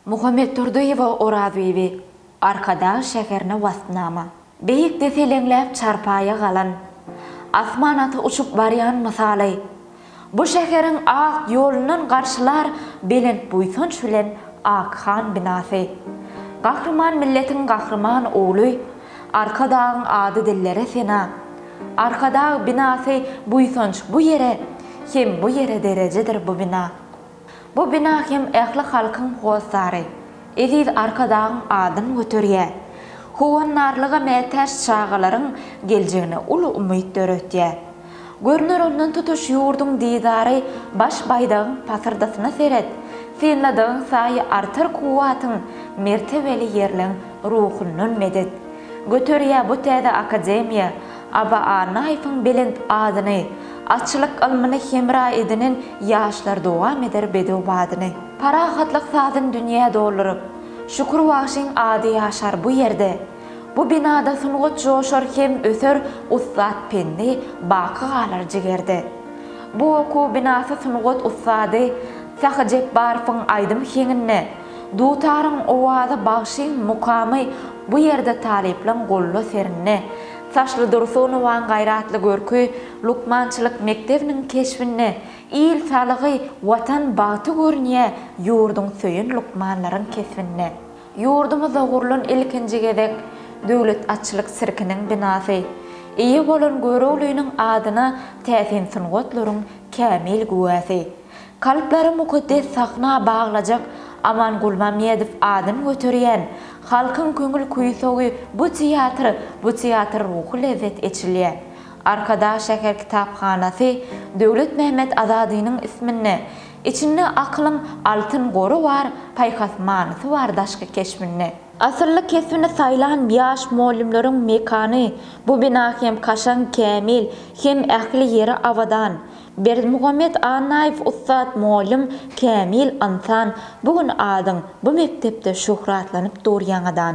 Muhammedurdyýewa Orazbibi, Arkadag şäherine waspnama. Beýikde seleňläp çarpaýa galan, Asman aty uçup barýan mysaly. Bu şäheriň ak ýolundan garşylar belent buýsanç bilen ak han binasy. Gahryman milletiň gahryman ogly, Arkadagyň ady dillere sena. Arkadag binasy buýsanç bu ýere, hem bu ýere derejedir bu bina. Bu bina hem ähli halkyň hossary, eziz Arkadagyň adyny göterýär. Howandarlyga mätäç çagalaryň geljegine uly umyt döretýär. Görner ondan tutuş ýurduň didary Baş baýdagyň pasyrdasyna seret, synladygyň saýy artar kuwwatyň Mertebeli ýerleň ruhundan medet göterýär bu täze akademiýa, Aba Annaýewiň belent adyny, Atçylyk ylmyny hemra edinen ýaşlar dowam eder bedew badyny. Parahatlyk sazyn dünýä dolduryp, Şükür bagşyň ady ýaşar bu ýerde. Bu binada sungat joşar hem öser Ussat pendi baky galar jigerde. Bu okuw binasy sungat ussady Sahyjepbarowyň aýdym heňinde, Dutaryň owazy bagşyň mukamy bu ýerde talyplaň goluna serindi. Saçly Dursunowaň gaýratly görki lukmançylyk mekdebiniň keşbinde Il saglygy, Watan bagty görünýä ýurduň söýen lukmanlaryň kesbinde. Ýurdumyzda gurlan ilkinji gezek Döwlet atçylyk sirkiniň binasy, eýe bolan Göroglynyň adyna täsin sungatlaryň kämil güwäsi. Kalplary mukaddes sahna baglajak Aman Gulmammedow adyny göterýän Halkyň köňül kuýsogy bu teatr bu teatr ruhy lezzet eçilýär. Arkadag şäher kitaphanasy Döwlet Mehmet Azadynyň isminde Içinde akylyň altyn gory bar Paýhas manysy bar daşky keşbinde. Asylly kesbini saýlan ýaş mugallymlaryň mekany Bu bina hem kaşaň, kämil, hem ähli ýeri abadan. Berdimuhamet Annaýew ussat mugallym, kämil ynsan, bu gün adyň bu mekdepde şöhratlanyp dur ýaňadan.